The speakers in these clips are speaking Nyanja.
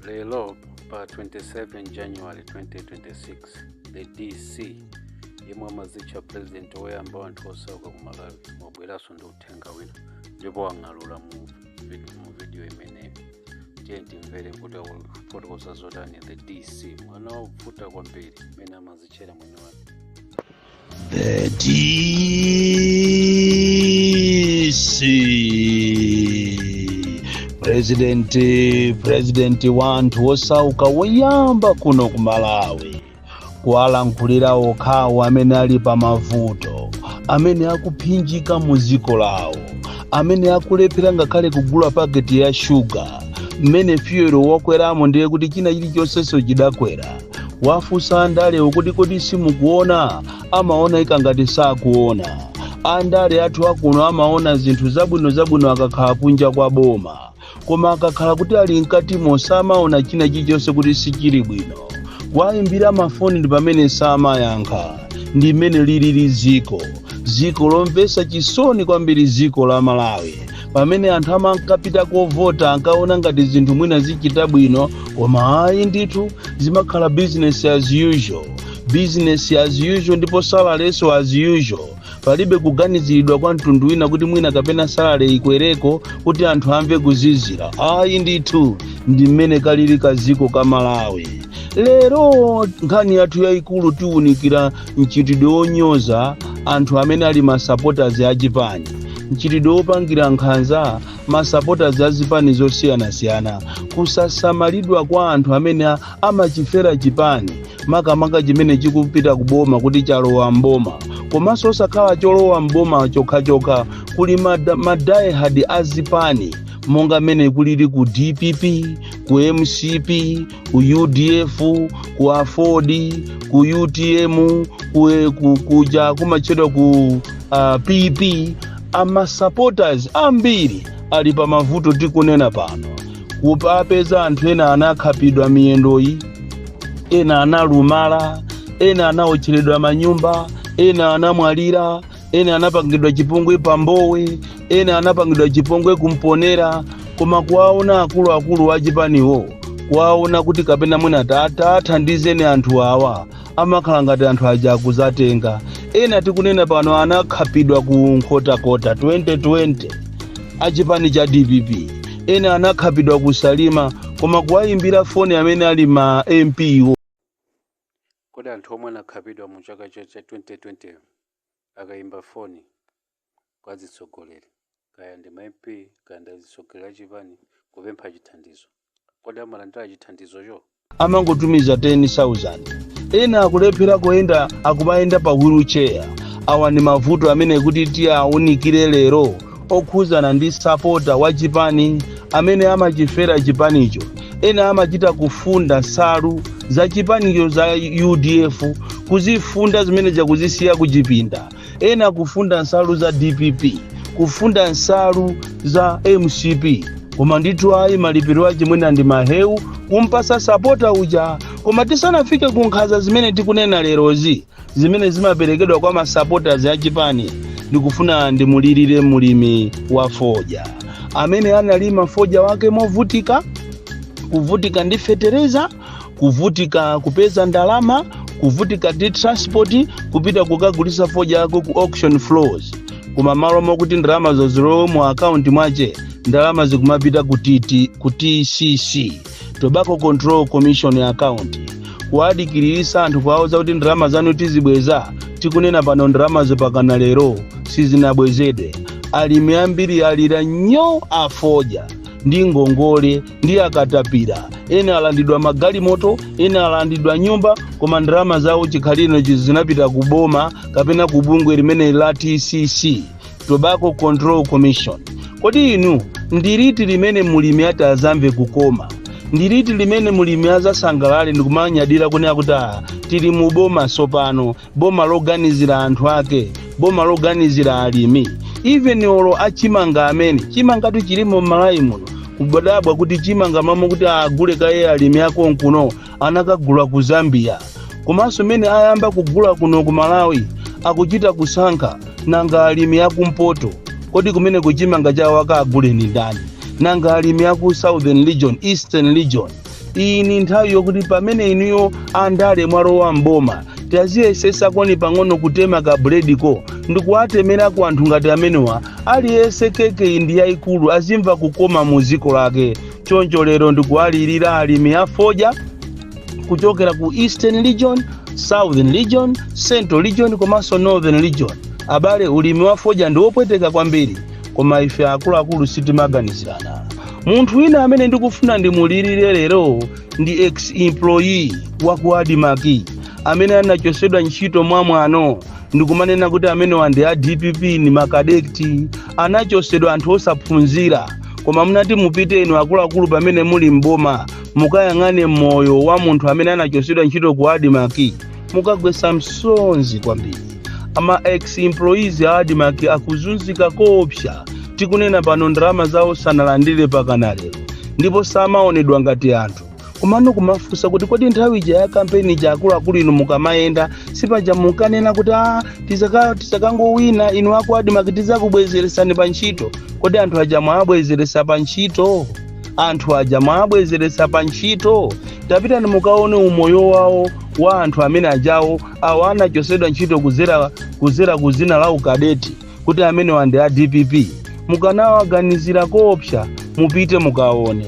lero pa 27 january 2026 the dc yemwe amazitcha president woyamba wa anthu osauka ku malawi wabweranso ndi uthenga wina ndipo wang'alula mu vid- mu video imeneyi tiye timvere kuti akufotokoza zotani the dc mwana wovuta kwambiri amene amazitchera mwini wake The DC President President wa anthu wosauka woyamba kuno ku Malawi kuwalankhulira okhawo amene ali pa mavuto amene akuphinjika mu dziko lawo amene akulephera ngakhale kugula paketi ya shuga mmene fuel wakweramo ndiye kuti china chilichonsenso chidakwera wafunsa andalewo kuti kodi simukuona amaona ikangati sakuona andale athu akuno amaona zinthu zabwino zabwino akakhala kunja kwa boma koma akakhala kuti ali mkatimo samaona china chilichonse kuti sichili bwino wayimbira mafoni ndi pamene samayankha ndi mmene lilili ziko ziko lomvesa chisoni kwambiri ziko la malawi pamene anthu amankapita kovota ankaona ngati zinthu mwina zichita bwino koma ayi ndithu zimakhala business as usual business as usual ndipo salarynso as usual palibe kuganiziridwa kwa mtundu wina kuti mwina kapena salary ikwereko kuti anthu amve kuzizira ayi ndithu ndi mmene kalili kaziko ka malawi lero nkhani yathu yayikulu tiwunikira mchitidwe wonyoza anthu amene ali masupporters a chipani mchitidwe wopangira nkhanza masupporters a zipani zosiyanasiyana kusasamalidwa kwa anthu amene a- amachifera chipani makamaka chimene chikupita kuboma kuti chalowa mboma komanso osakhala cholowa mboma chokhachokha kuli mada- madiehard a zipani monga mmene kulili ku dpp ku mcp ku udf ku aford ku utm ku, ku, kuja kumatchedwa ku uh, pp amasupporters ambiri ali pa mavuto tikunena pano kukapeza anthu ena anakhapidwa miyendoyi ena analumala ena anaotcheredwa manyumba ena anamwalira ena anapangidwa chipongwe pa mbowe ena anapangidwa chipongwe ku mponela koma kuwaona akuluakulu a chipaniwo kuwaona kuti kapena mwina tathandizeni anthu awa amakhala ngati anthu aja akuzatenga ena tikunena pano anakhapidwa ku nkhotakota 2020 a chipani cha dpp ena anakhapidwa ku salima koma kuwayimbira foni amene ali ma mp wo Kodi anthu omwe anakhapidwa mu chaka cha 2020 akayimba foni kwa azitsogoleri, kaya ndi ma MP kaya ndi azitsogoleri a chipani kupempha chithandizo, kodi amalandira chithandizocho? amangotumiza 10,000. Ena akulephera kuyenda akumayenda pa wheel chair. Awa ndi mavuto amene kuti tiawunikire lero. okhuzana ndi sapota wa chipani amene amachifera chipanicho ena amachita kufunda nsalu za chipanicho za udf kuzifunda zimene zija kuzisiya kuchipinda ena kufunda nsalu za dpp kufunda nsalu za mcp koma ndithu ayi malipiro ache mwina ndi mahewu kumpasa sapota uja koma tisanafike ku nkhanza zimene tikunena lerozi zimene zimaperekedwa kwa ma supporters a chipani ndikufuna ndimulirire mulimi wa fodya amene analima fodya wake movutika kuvutika ndi fetereza kuvutika kupeza ndalama kuvutika ndi transport kupita kukagulisa fodya wake ku auction floors koma malo mokuti ndalama zo zilowe mu akaunti mwache ndalama zikumapita ku tcc tobacco control commission account kuwadikiriritsa anthu kuwauza kuti ndalama zanu tizibweza tikunena pano ndalamazo mpakana lero sizinabwezedwe alimi ambiri alira nyo afodya ndi ngongole ndi akatapira ena alandidwa magalimoto ena alandidwa nyumba koma ndalama zawo chikhalirenicho zinapita kuboma kapena kubungwe limeneli la tcc tobacco control commission kodi inu ndiliti limene mulimi atazamve kukoma ndiliti limene mulimi azasangalale ndikumanyadira kunena kuti ah, tili mu boma sopano boma loganizira anthu ake boma loganizira alimi even olo achimanga amene chimangatu chilimo mmalawi muno koma kudabwa kuti chimanga mmalo mokuti agule kaye alimi akonkuno anakagula ku zambia komanso mene ayamba kugula kuno ku malawi akuchita kusankha nanga alimi akumpoto kodi kumeneku chimanga chawo akagule ndi ndani nanga alimi aku southern region eastern region iyi ni nthawi yokuti pamene inuyo andale mwalowa mboma taziyesesakoni pang'ono kutema ka bulediko ndikuwatemera ku anthu ngati amenewa aliyense keke yi ndi yayikulu azimva kukoma mu dziko lake choncho lero ndikuwalirira alimi a fodya kuchokera ku eastern region southern region central region komanso northern region abale ulimi wa fodya ndi wopweteka kwambiri koma ife akuluakulu sitimaganizirana munthu wina amene ndikufuna ndimulirire lero ndi ex employee wa ku admarc amene anachosedwa ntchito mwamwano ndikumanena kuti amenewa ndi a dpp ni makadeti anachosedwa anthu osaphunzira koma munati mupite inu akuluakulu pamene muli mboma mukayang'ane moyo wa munthu amene anachosedwa ntchito ku adimaki mukagwesa msozi kwambiri ama ex employees a adimaki akuzunzika koopsa tikunena pano ndalama zawo sanalandire pakana lero ndipo samaonedwa ngati anthu komano kumafunsa kuti kodi nthawi ija ya kampeni ija akuluakulu inu mukamayenda sipaja munkanena kuti a tizaka- tizakangowina inu aku adimaki tizakubwezeresani pa ntchito kodi anthu aja mwawabwezeresa pa ntchito anthu aja mwawabwezeresa pa ntchito tapitani mukaone umoyo wawo wa anthu amene ajawo awo anachosedwa ntchito kuzera kuzera kuzina la ukadeti kuti amenewa ndi a dpp mukanawaganizira koopsa mupite mukaone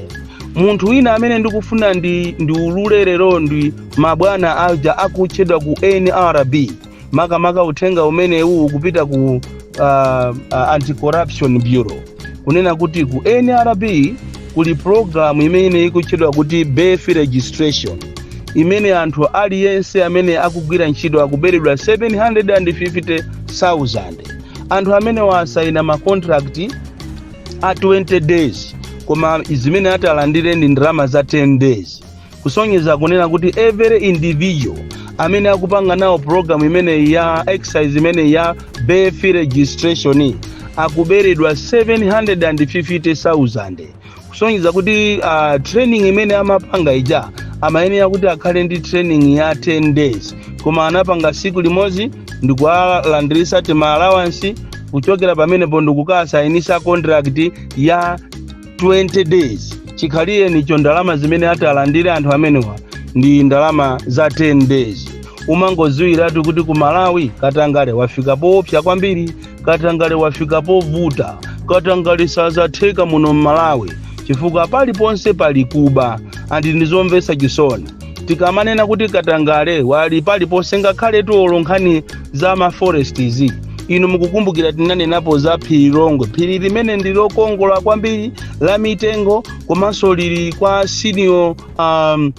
munthu wina amene ndikufuna ndiulule lero ndi mabwana aja akutchedwa ku nrb makamaka uthenga umenewu ukupita ku uh, uh, anti-corruption bureau kunena kuti ku nrb kuli pulogalamu imene ikutchedwa kuti birth registration imene anthu aliyense amene akugwira ntchito akuberedwa 750,000 anthu amene asayina makontrakti a 20 days koma zimene ati alandire ndi ndalama za 10 days kusonyeza kunena kuti every individual amene akupanga nawo program imeneyi ya exercise imeneyi ya birth registration akuberedwa 750,000 kusonyeza kuti uh, training imene amapanga ija amayenera kuti akhale ndi training ya 10 days koma anapanga siku limodzi ndikuwalandirisa tima allowance kuchokera pamenepo ndikukasainisa contract ya 20 days chikhalirenicho ndalama zimene ati alandire anthu amenewa ndi ndalama za 10 days umangoziwiratu kuti ku malawi katangale wafika poopsa kwambiri katangale wafika povuta katangale sazatheka muno mmalawi chifukwa paliponse pali kuba andi ndizomvetsa chisoni tikamanena kuti katangale wali paliponse ngakhaletu olo nkhani za ma forest izi inu mukukumbukira tinanenapo za phiri longwe phiri limene ndi lokongola kwambiri la mitengo komanso lili kwa senior um,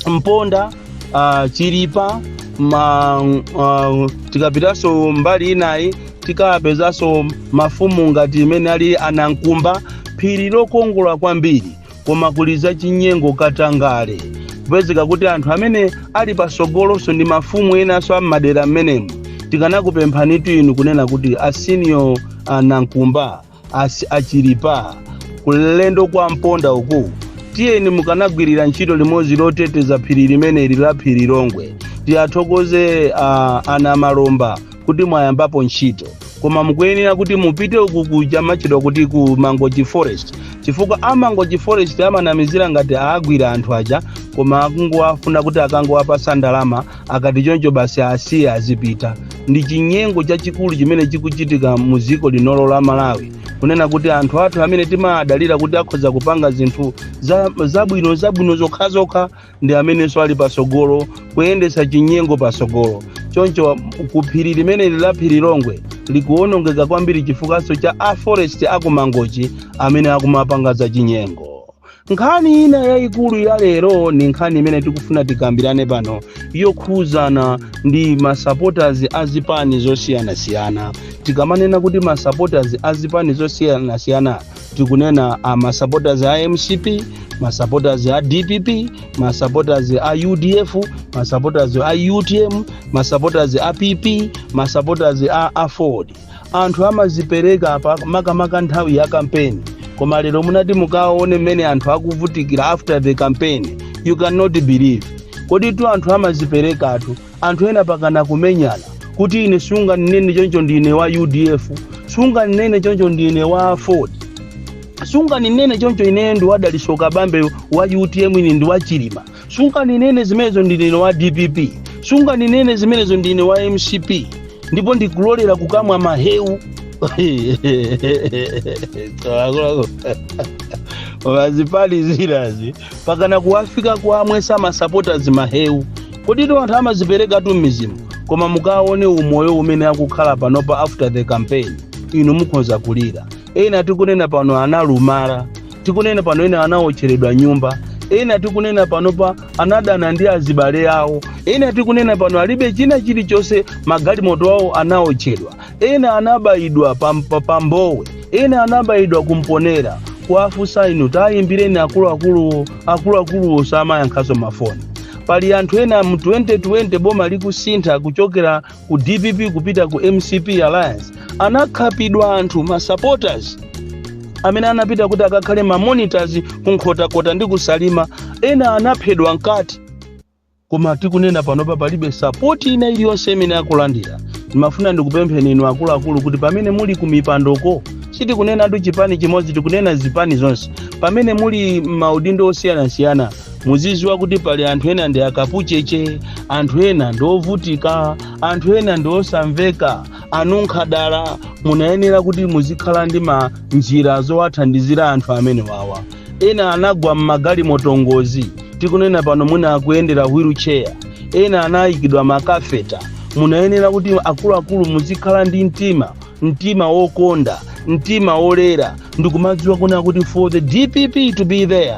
mponda uh, chilipa ma, uh, tikapitanso mbali inayi tikapezekanso mafumu ngati imene ali a nankumba phiri lokongola kwambiri koma kuli zachinyengo katangale kupezeka kuti anthu amene ali pasogolonso ndi mafumu enanso a m'madera m'menemu tikanakupemphanitu inu kunena kuti asiniyo a nankumba asi a chilipa kulowa kwa mponda uku tiyeni mukanagwirira ntchito limodzi loteteza phiri limeneli la phiri longwe tiyathokoze uh, ana malomba kuti mwayambapo ntchito koma mukuyenera kuti mupite uku kuja kumatchedwa kuti ku mangochi forest chifukwa a mangochi forest amanamizira ngati agwira anthu aja koma akungowafuna kuti akangowapasa ndalama akati choncho basi asiye azipita ndi chinyengo chachikulu chimene chikuchitika mu dziko linolo la malawi kunena kuti anthu athu amene timadalira kuti akhoza kupanga zinthu zabwino zabwino zokhazokha ndi amenenso ali patsogolo kuyendetsa chinyengo patsogolo choncho ku phiri limeneli la phirilongwe likuwonongeka kwambiri chifukwanso cha a forest aku mangochi amene akumapanga za chinyengo nkhani ina yayikulu ya lero ni nkhani imene tikufuna tikambirane pano yokhuzana ndi masupporters a zipani zosiyanasiyana tikamanena kuti masupporters a zipani zosiyanasiyana tikunena masupporters a mcp masupporters a dpp masupporters a udf masupporters a utm masupporters a pp masupporters a aford anthu amazipereka apa makamaka nthawi ya kampeni koma lero munati mukaone mmene anthu akuvutikira after the campaign you cannot believe koditu anthu amaziperekatu anthu ena mpakana kumenyana kuti ine sungandinene choncho ndine wa udf sungandinene choncho ndine wa aford sungandinene choncho ine ndi wa dalitso kabambe wa utm ine ndi wa chilima sungandinene zimenezo ndine wa dpp sungandinene zimenezo ndine wa mcp ndipo ndikulolera kukamwa mahewu a mazipani zinazi mpakana kuwafika kuwamwesa masapotazi mahewu koditu anthu amaziperekatu m'mizimu koma mukaone umoyo umene akukhala panopa after the campaign inu mukhonza kulira ena tikunena pano analumala tikunena pano ena anaotcheredwa nyumba ena tikunena panopa anadana ndi azibale awo ena tikunena pano alibe china chilichonse magalimoto awo anaotchedwa ena anabayidwa pa mbowe ena anabayidwa ku mponela kuwafunsa inu tayimbireni akuluakulu osamayankhanso mafoni pali anthu ena mu 2020 boma likusintha kuchokera ku dpp kupita ku mcp alliance anakhapidwa anthu ma supporters amene anapita kuti akakhale ma monitors ku nkhotakota ndi kusalima ena anaphedwa mkati koma tikunena panopa palibe sapoti ina iliyonse imene akulandira ndimafuna ndikupempheni inu akuluakulu kuti pamene muli ku mipandoko sitikunenatu chipani chimodzi tikunena zipani zonse pamene muli m'maudindo osiyanasiyana muziziwa kuti pali anthu ena ndi akapucheche anthu ena ndi ovutika anthu ena ndi osamveka anunkha dala munayenera kuti muzikhala ndi manjira zowathandizira anthu amenewawa ena anagwa m'magalimoto ngozi tikunena pano mwina akuyendera wheelchair ena anayikidwa makatheta munayenera kuti akuluakulu muzikhala ndi mtima mtima wokonda mtima wolera ndikumadziwa kunena kuti for the dpp to be there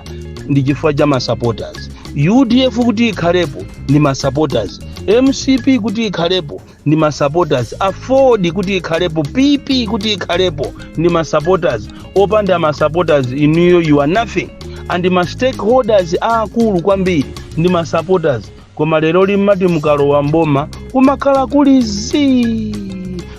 ndi chifukwa cha masupporters udf kuti ikhalepo ndi masupporters mcp kuti ikhalepo ndi masupporters afford kuti ikhalepo pp kuti ikhalepo ndi masupporters opanda masupporters inuyo you are nothing and ma stakeholders aakulu kwambiri ndi masupporters koma lero mmati mukalowa mboma kumakhala kuli zii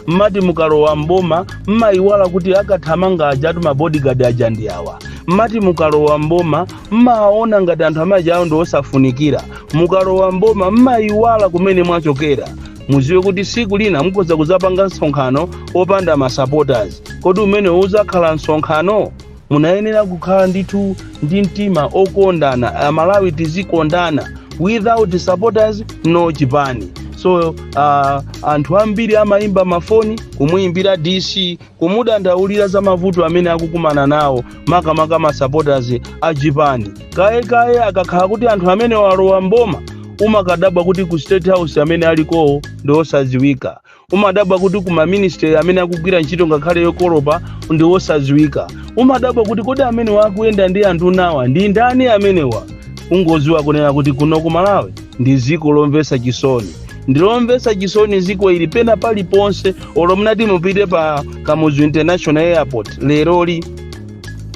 mmati mukalowa mboma mmayiwala kuti akathamanga ajatu mabodyguard aja ndi awa mmati mukalowa mboma mmaona ngati anthu amaja awo ndi osafunikira mukalowa mboma mmayiwala kumene mwachokera mudziwe kuti siku lina mukhoza kuzapanga msonkhano opanda masupporters kodi umene udzakhala msonkhano munayenera kukhala ndithu ndi mtima okondana amalawi tizikondana without supporters no chipani so uh, anthu ambiri amayimba mafoni kumuyimbira dc kumudandaulira za mavuto amene akukumana nawo makamaka ma supporters a chipani kaye kaye akakhala kuti anthu amenewa alowa mboma umakadabwa kuti ku state house amene alikowo ndi osadziwika umadabwa kuti ku maministry amene akugwira ntchito ngakhale yokolopa ndi osadziwika umadabwa kuti kodi amenewa akuyenda ndi anduna awa ndi ndani amenewa ungoziwa kunena kuti kuno ku malawi ndi dziko lomvetsa chisoni ndilomvetsa chisoni dziko ili pena paliponse olo mutati mupite pa kamuzu international airport leroli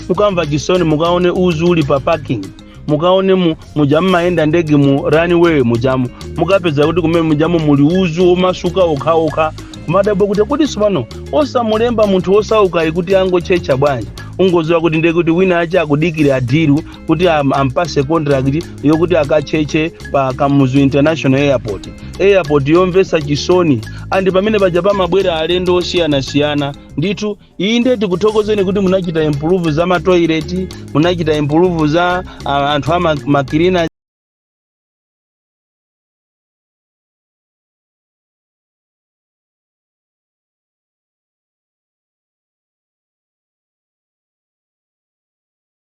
mukamva chisoni mukaone uzu uli pa parking mukaone mu, muja mmayenda ndege mu runway mujamu mukapeza kuti kumene mujamu muli uzu omasuka okhaokha kumadabwa kuti kodi sipano osamulemba munthu osaukayi kuti angotchetcha bwanji ungoziwa kuti ndekuti wina ache akudikira deal kuti am- ampase contract yokuti akatchetche pa kamuzu international airport airport yomvetsa chisoni and pamene paja pamabwera alendo osiyanasiyana ndithu iyi nde tikuthokozeni kuti munachita improve za matoileti munachita improve za ah, anthu a ma- makilina